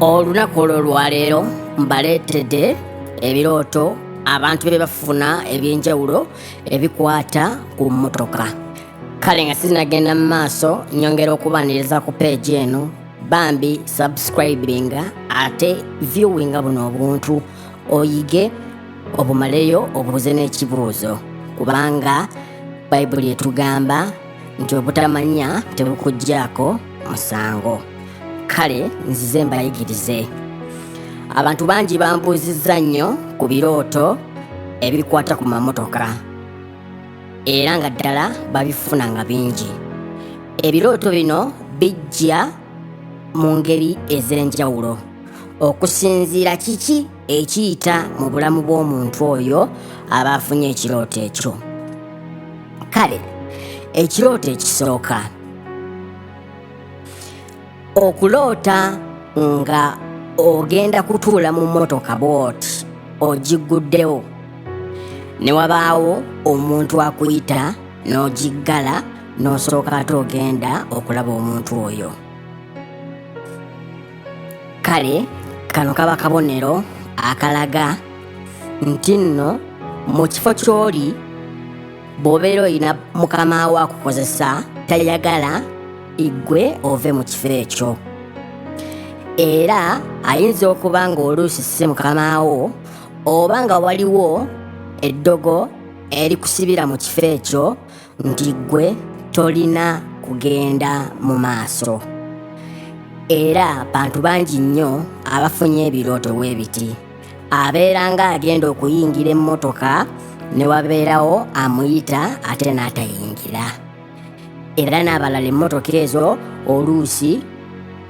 olunaku olwo olwaleero mbaleetedde ebirooto abantu bye bafuna eby'enjawulo ebikwata ku mmotoka kale nga sizinagenda mu maaso nyongera okubaniriza ku peegi eno bambi subscribinga ate viewinga buno obuntu oyige obumaleyo obuuze n'ekibuuzo kubanga bayibuli etugamba nti obutamanya tebukuggyako musango kale nzize mbayigirize abantu bangi bambuuzizza nnyo ku birooto ebikwata ku mamotoka era nga ddala babifuna nga bingi ebirooto bino bijja mu ngeri ez'enjawulo okusinziira kiki ekiyita mu bulamu bw'omuntu oyo aba afunye ekirooto ekyo kale ekirooto ekisooka okuloota nga ogenda kutuula mu mmotoka bwoti ogigguddewo ne wabaawo omuntu akuyita n'ogiggala n'osooka ate ogenda okulaba omuntu oyo kale kano kaba kabonero akalaga nti nno mu kifo ky'oli bw'obeera olina mukama wo akukozesa tayagala igwe ove mu kifo ekyo era ayinza okuba ng'oluusi si mukama wo oba nga waliwo eddogo erikusibira mu kifo ekyo nti ggwe tolina kugenda mu maaso era bantu bangi nnyo abafunye ebirooto bwe biti abeera ng'agenda okuyingira emmotoka ne wabeerawo amuyita ate n'atayingira era n'abalala emmotoka ezo oluusi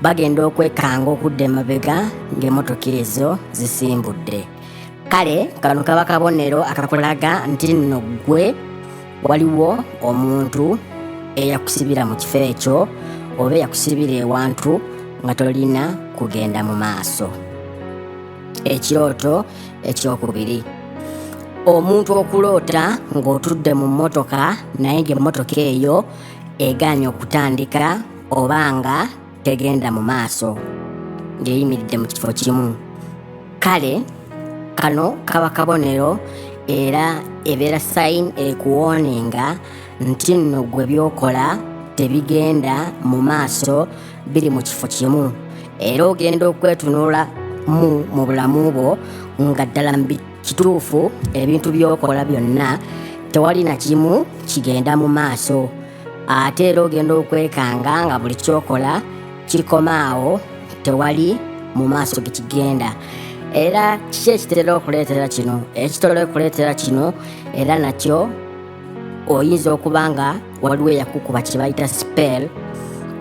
bagenda okwekanga okudda emabega ng'emmotoka ezo zisimbudde kale kano kaba kabonero akakulaga nti nno ggwe waliwo omuntu eyakusibira mu kifo ekyo oba eyakusibira ewantu nga tolina kugenda mu maaso ekirooto ekyokubiri omuntu okuloota ng'otudde mu mmotoka naye ng'emmotoka eyo egaanye okutandika oba nga tegenda mu maaso ng'eyimiridde mu kifo kimu kale kano kaba kabonero era ebeera sayini ekuwooninga nti nno gwe byokola tebigenda mu maaso biri mu kifo kimu era ogenda okwetunula mu mu bulamu bwo nga ddala kituufu ebintu byokola byonna tewali na kimu kigenda mu maaso ate era ogenda okwekanga nga buli kyokola kikoma awo tewali mu maaso gekigenda era kiki ekitera okuleetera kino ekitera okuleetera kino era nakyo oyinza okuba nga waliwo eyakukuba kye bayita spell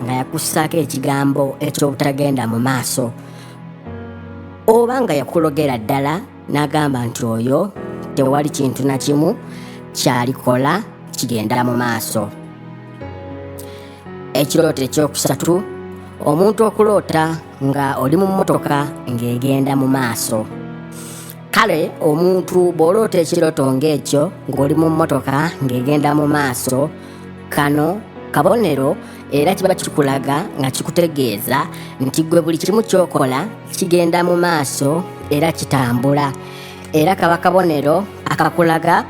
nga yakussaako ekigambo eky'obutagenda mu maaso oba nga yakulogera ddala n'agamba nti oyo tewali kintu na kimu kyalikola kigenda mu maaso ekirooto ekyokusatu omuntu okuloota nga oli mu mmotoka ng'egenda mu maaso kale omuntu bw'oloota ekirooto ng'ekyo ng'oli mu mmotoka ng'egenda mu maaso kano kabonero era kiba kikulaga nga kikutegeeza nti gwe buli kimu kyokola kigenda mu maaso era kitambula era kaba kabonero akakulaga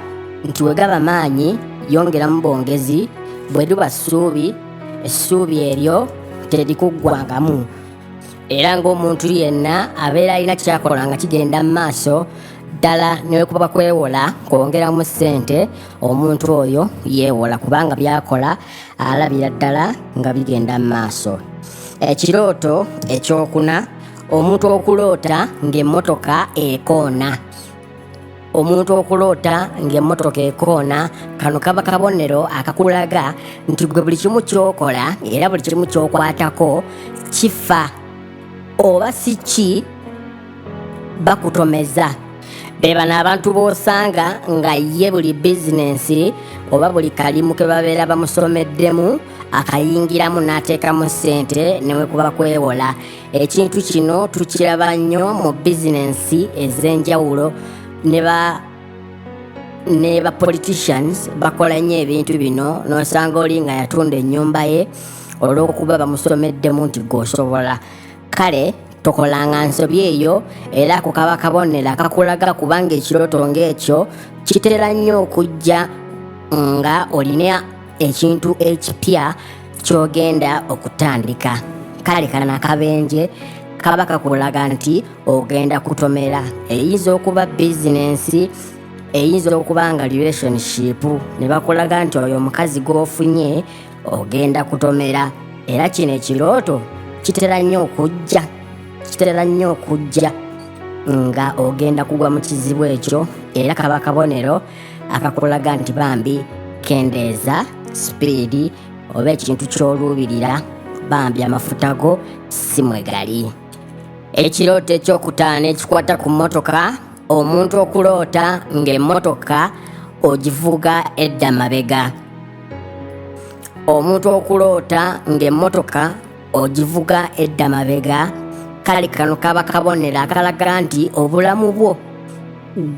nti wegaba maanyi yongeramu bwongezi bwe luba ssuubi essuubi eryo terikuggwangamu era ng'omuntu yenna abeera alina kyakola nga kigenda mu maaso ddala newekuba kwewola kwongeramu ssente omuntu oyo yeewola kubanga byakola alabira ddala nga bigenda mu maaso ekirooto ekyokuna omuntu okuloota ng'emmotoka ekoona omuntu okuloota ng'emmotoka ekoona kano kaba kabonero akakulaga nti gwe buli kimu kyokola era buli kimu kyokwatako kifa oba si ki bakutomeza be bano abantu b'osanga nga ye buli bizinensi oba buli kalimu ke babeera bamusomeddemu akayingiramu n'ateekamu ssente ne wekuba kwewola ekintu kino tukiraba nnyo mu bizinensi ez'enjawulo ne ba ne ba politicians bakola nnyo ebintu bino n'osanga oli nga yatunda ennyumba ye olw'okuba bamusomeddemu nti gweosobola kale tokolanga nsobi eyo era ku kaba kabonero akakulaga kubanga ekirooto ng'ekyo kitera nnyo okujja nga olina ekintu ekipya ky'ogenda okutandika kale kana nakabenje kaba kakulaga nti ogenda kutomera eyinza okuba bizinensi eyinza okuba nga relationship ne bakulaga nti oyo omukazi gw'ofunye ogenda kutomera era kino ekirooto kitera nnyo okujja kitera nnyo okujja nga ogenda kugwa mu kizibu ekyo era kaba kabonero akakulaga nti bambi kendeeza sipiidi oba ekintu ky'oluubirira bambi amafuta go si mwe gali ekirooto ekyokutaano ekikwata ku mmotoka omuntu okuloota ng'emmotoka ogivuga edda mabega omuntu okuloota ng'emmotoka ogivuga edda mabega kale kano kaba kabonero akalaga nti obulamu bwo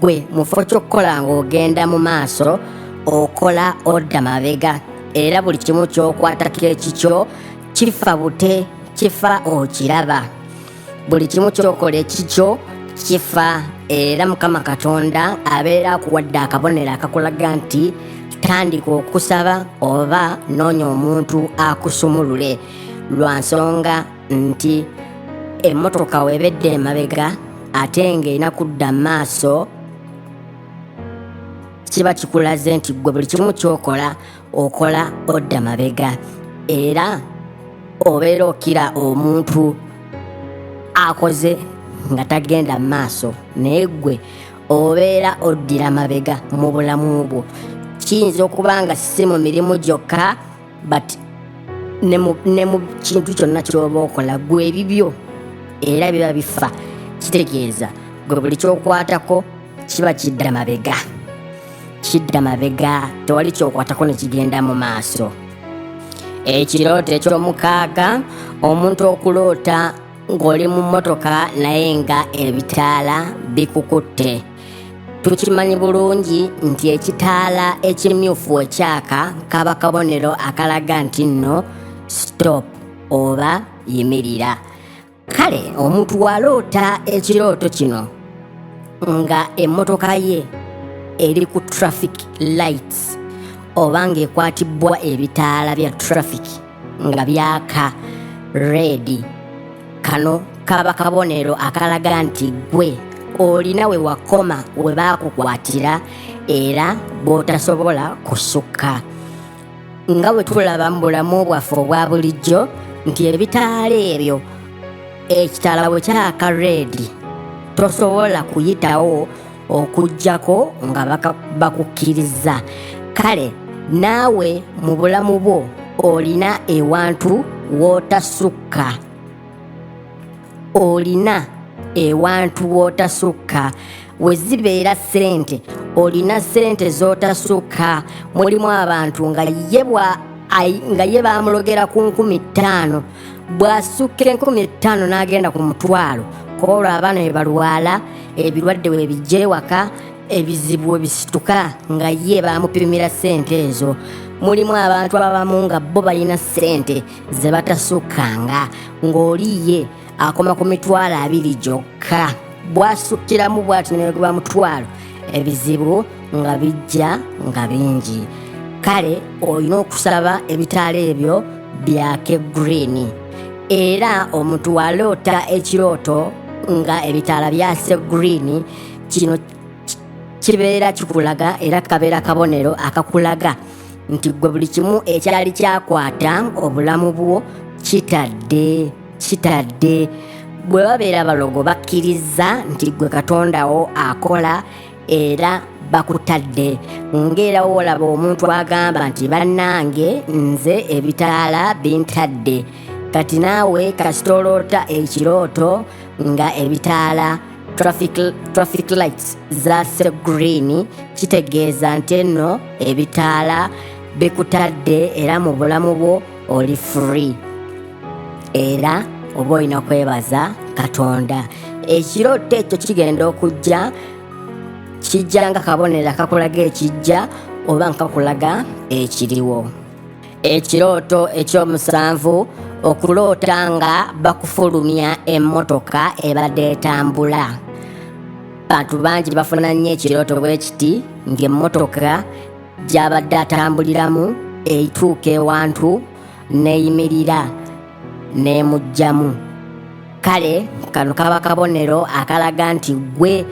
gwe mufo ky'okukola ng'ogenda mu maaso okola odda mabega era buli kimu ky'okwatako ekikyo kifa bute kifa okiraba buli kimu kyokola ekikyo kifa era mukama katonda abeera akuwadde akabonero akakulaga nti tandika okusaba oba noonya omuntu akusumulule lwa nsonga nti emmotoka webedde emabega ate ng'erina kudda maaso kiba kikulaze nti gwe buli kimu kyokola okola odda mabega era obeera okira omuntu akoze nga tagenda mu maaso naye gwe obeera oddira mabega mu bulamu bwo kiyinza okuba nga si mu mirimu gyokka but ne mu kintu kyonna kyoba okola gwe ebibyo era biba bifa kitegeeza gwe buli kyokwatako kiba kidda mabega kidda mabega tewali kyokwatako nekigenda mu maaso ekirooto ekyomukaaga omuntu okuloota ng'oli mu mmotoka naye nga ebitaala bikukutte tukimanyi bulungi nti ekitaala ekimyufu ekyaka kaba kabonero akalaga nti nno stop oba yimirira kale omuntu waloota ekirooto kino nga emmotoka ye eri ku traffic lights oba ng'ekwatibbwa ebitaala bya traffic nga byaka reedi kano kaba kabonero akalaga nti gwe olina we wakoma we baakukwatira era bw'otasobola kusukka nga bwe tulaba mu bulamu bwaffe obwa bulijjo nti ebitaala ebyo ekitala bwe kyaka reedi tosobola kuyitawo okugyako nga bakukkirizza kale naawe mu bulamu bwo olina ewantu wootasukka olina ewantu wootasukka we zibeera ssente olina ssente z'otasukka mulimu abantu nga ye nga ye baamulogera ku nkumi ttaano bw'asukka enkumi ettaano n'agenda ku mutwalo kuba olwo abaana be balwala ebirwadde we bijja ewaka ebizibu we bisituka nga ye baamupimira ssente ezo mulimu abantu abamu nga bo balina ssente ze batasukkanga ng'oli ye akoma ku mitwalo abiri gyokka bwasukkiramu bwati neweguba mutwalo ebizibu nga bijja nga bingi kale olina okusaba ebitaala ebyo byake green era omuntu waloota ekirooto nga ebitaala byase green kino kibeera kikulaga era kabeera kabonero akakulaga nti gwe buli kimu ekyali kyakwata obulamu bwo kitadde kitadde bwe babeera balogo bakkirizza nti gwe katondawo akola era bakutadde ng'era wolaba omuntu agamba nti bannange nze ebitaala bintadde kati naawe kasita oloota ekirooto nga ebitaala traffic lights zase green kitegeeza nti enno ebitaala bikutadde era mu bulamu bwo oli free era oba olina kwebaza katonda ekirooto ekyo kigenda okujja kijja nga kabonero akakulaga ekijja oba nga kakulaga ekiriwo ekirooto ekyomusanvu okuloota nga bakufulumya emmotoka ebadde etambula bantu bangi bafuna nnyo ekirooto bwe kiti ng'emmotoka gy'abadde atambuliramu eituuka ewantu n'eyimirira n'emuggyamu kale kano kaba kabonero akalaga nti ggwe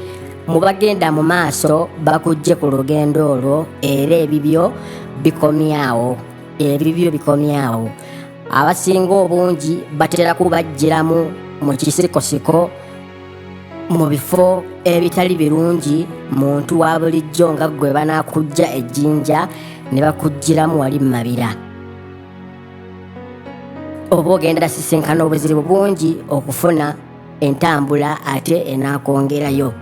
mu bagenda mu maaso bakujje ku lugendo olwo era ebibyo bikomyawo ebibyo bikomyawo abasinga obungi batera kubajjiramu mu kisikosiko mu bifo ebitali birungi muntu wa bulijjo nga ggwe banaakujja ejjinja ne bakuggyiramu wali mu mabira oba ogenda sisinkana obuzibu bungi okufuna entambula ate enaakwongerayo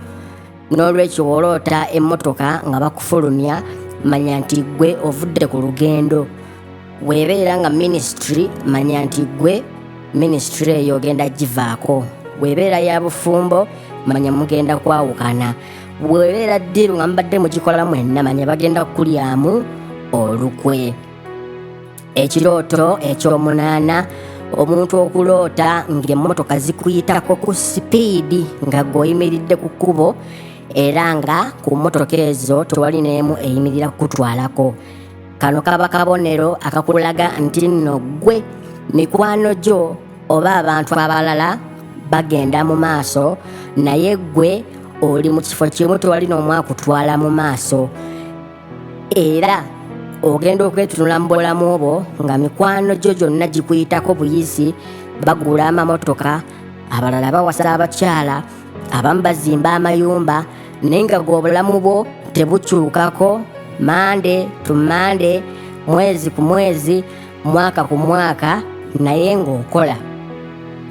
n'olwekyo woloota emmotoka nga bakufulumya manya nti ggwe ovudde ku lugendo weebeera nga minisitule manya nti ggwe minisitule eyo ogenda givaako weebeera ya bufumbo manya mugenda kwawukana weebeera ddiiru nga mubadde mugikola mwenna manya bagenda kukulyamu olukwe ekirooto ekyomunaana omuntu okuloota ng'emmotoka zikuyitako ku sipiidi nga gweoyimiridde ku kkubo era nga ku mmotoka ezo tewali n'emu eyimirira kukutwalako kano kaba kabonero akakulaga nti nno ggwe mikwano gyo oba abantu abalala bagenda mu maaso naye ggwe oli mu kifo kimu tewali n'omwakutwala mu maaso era ogenda okwetunula mu bulamu obwo nga mikwano gyo gyonna gikuyitako buyisi bagula amamotoka abalala bawasa abakyala abamu bazimba amayumba naye nga gwe obulamu bwo tebukyukako mande to mande mwezi ku mwezi mwaka ku mwaka naye ng'okola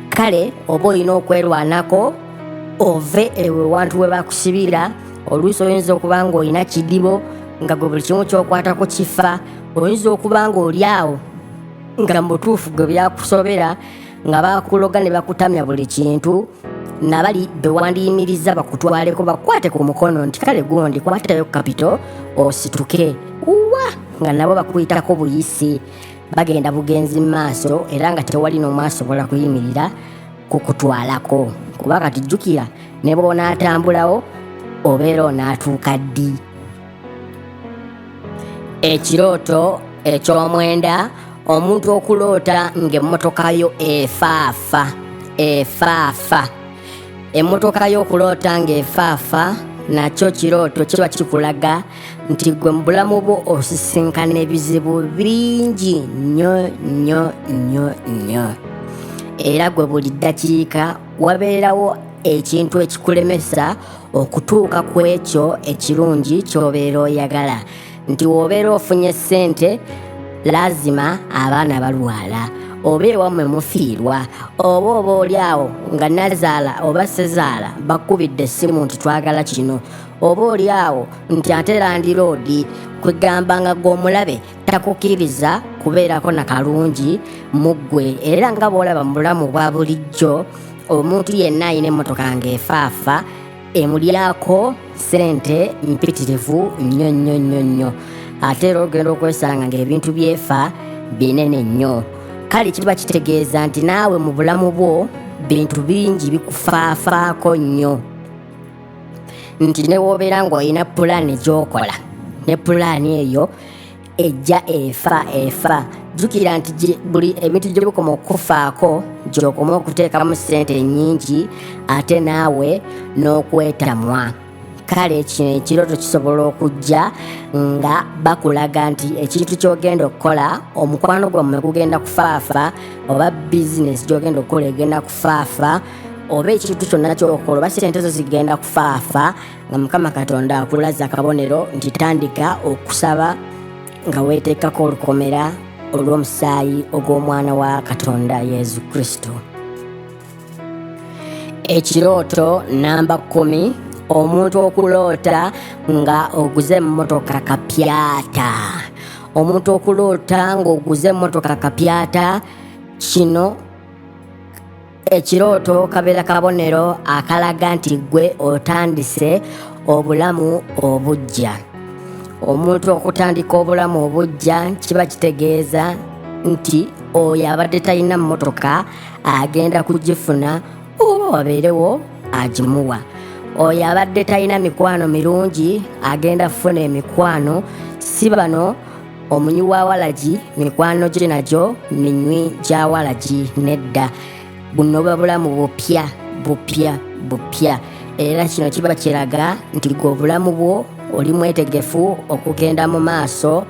kale oba olina okwerwanako ove ewe wantu we bakusibira oluusi oyinza okuba ng'olina kidibo nga gwe buli kimu kyokwatako kifa oyinza okuba ng'oli awo nga mubutuufu gwe byakusobera nga bakuloga ne bakutamya buli kintu nabali bewandiyimiriza bakutwaleko bakwate ku mukono nti kale gundi kwatayo kapito osituke uwa nga nabo bakuyitako buyisi bagenda bugenzi mu maaso era nga tewali n'omu asobola kuyimirira kukutwalako kuba kati jjukira ne bw'onaatambulawo obeera onaatuuka ddi ekirooto eky'omwenda omuntu okuloota ng'emmotoka yo efaafa efaafa emmotoka yo okuloota ng'efaafa nakyo kirooto kiba kikulaga nti gwe mu bulamu bwo osisinkana ebizibu bingi nnyo nnyo nnyo nnyo era gwe buli ddakiika wabeerawo ekintu ekikulemesa okutuuka ku ekyo ekirungi ky'obeera oyagala nti w'obeera ofunye ssente laazima abaana balwala oba ewammwe mufiirwa oba oba oli awo nga nazaala oba sezaala bakubidde essimu nti twagala kino oba oli awo nti ate landiroodi kwegamba nga gw'omulabe takukkiriza kubeerako na kalungi mu ggwe era nga bw'olaba mu bulamu bwa bulijjo omuntu yenna alina emmotoka ng'efaafa emulyako sente mpitirivu nnyo nnyo nnyo nnyo ate era ogenda okwesanga ng'ebintu byefa binene nnyo kale kiba kitegeeza nti naawe mu bulamu bwo bintu bingi bikufaafaako nnyo nti newoobeera ng'olina pulaani gyokola ne pulaani eyo ejja efa efa jjukira nti buli ebintu gye bikoma okukufaako gyokoma okuteekamu ssente ennyingi ate naawe n'okwetamwa kale kino ekirooto kisobola okujja nga bakulaga nti ekintu kyogenda okukola omukwano gwammwe gugenda kufaafa oba bizinesi gyogenda okukola egenda kufaafa oba ekintu kyonna kyokola oba sente zo zigenda kufaafa nga mukama katonda akulaza akabonero nti tandika okusaba nga weeteekako olukomera olw'omusaayi ogw'omwana wa katonda yesu kristo ekirooto namba kumi omuntu okuloota nga oguze emmotoka kapyata omuntu okuloota ng'oguze emmotoka kapyata kino ekirooto kabeera kabonero akalaga nti gwe otandise obulamu obujja omuntu okutandika obulamu obujja kiba kitegeeza nti oyo abadde talina mmotoka agenda kugifuna oba wabeerewo agimuwa oyo abadde talina mikwano mirungi agenda kufuna emikwano si bano omunywi wa walagi mikwano gye nagyo minywi gya walagi nedda buno buba bulamu bupya bupya bupya era kino kiba kiraga nti gwe obulamu bwo oli mwetegefu okugenda mu maaso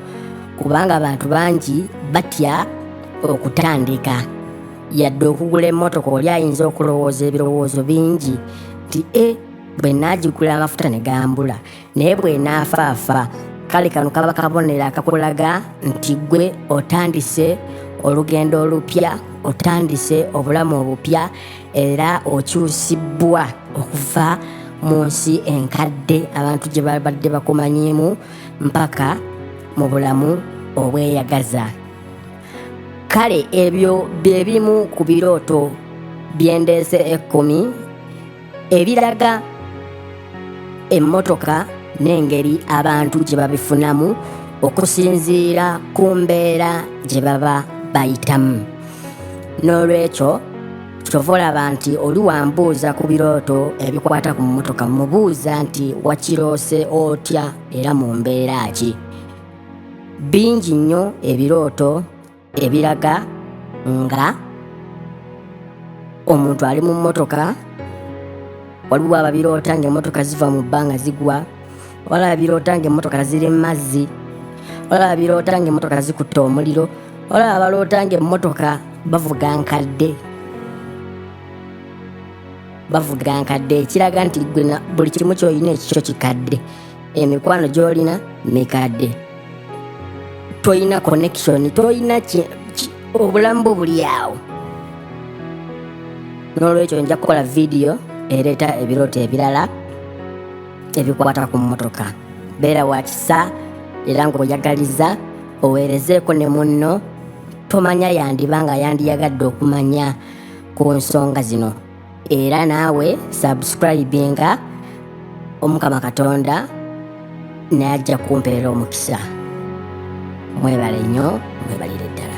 kubanga abantu bangi batya okutandika yadde okugula emmotoka oli ayinza okulowooza ebirowoozo bingi nti e bwe naagigula amafuta ne gambula naye bw'enaafaafa kale kano kaba kabonero akakulaga nti gwe otandise olugendo olupya otandise obulamu obupya era okyusibbwa okuva mu nsi enkadde abantu gye babadde bakumanyiimu mpaka mu bulamu obweyagaza kale ebyo bye bimu ku birooto byendeese ekkumi ebiraga emmotoka n'engeri abantu gye babifunamu okusinziira ku mbeera gye baba bayitamu n'olwekyo kyova olaba nti oli wambuuza ku birooto ebikwata ku mmotoka mubuuza nti wakiroose otya era mu mbeera ki bingi nnyo ebirooto ebiraga nga omuntu ali mu mmotoka waliwo ababiroota ng'emmotoka ziva mu bbanga zigwa waliwo ababiroota ng'emmotoka ziri mu mazzi waliwo ababiroota ng'emmotoka zikutte omuliro waliwo abaloota ng'emmotoka bavuga nkadde bavuga nkadde ekiraga nti buli kimu kyolina ekikyo kikadde emikwano gyolina mikadde tolina connection tolina obulamu bwo buli awo n'olwekyo nja kukola vidiyo ereeta ebirooto ebirala ebikwata ku mmotoka beera wakisa era ng'oyagaliza oweerezeeko ne munno tomanya yandiba nga yandiyagadde okumanya ku nsonga zino era naawe subscribinga omukama katonda naye ajja kumpeera omukisa mwebale nnyo mwebalire ddala